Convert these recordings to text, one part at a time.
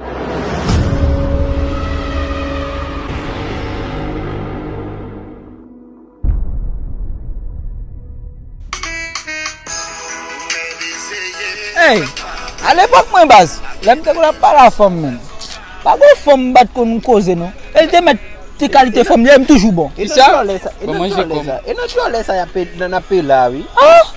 Hey! A lepòk mwen baz, lè m te konn ap pale a fanm menm, pa gen yon fanm m pa t konn koze non. E l te mèt ti kalite fanm li e m toujou bon. E nan dyòlè sa y ap peye la a wi.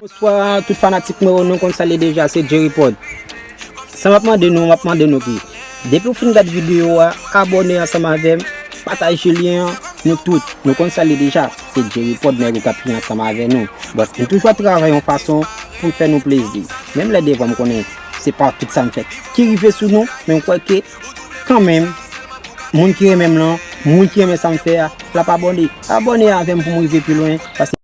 Bonswa tout fanatik mwen yo nou konn sa li ye deja se Jerry Prod Sa map mande nou map mande nou ki Depiw fin gad videyo a abòne ansanm avèm pataje lyen an nou tout nou konn sa li ye deja se Jerry Prod nèg ou kap ri ansanm avè nou Bon m toujou ap travay yon fason poum fè nou plezi menm lè devan m konnen se pa tout sam fè ki rive sou nou men m kwè ke Kanmenm, moun ki renmenm lan, moun ki renmen sam fè a, lap abòne. Abòne avèm poum rive pi lwen.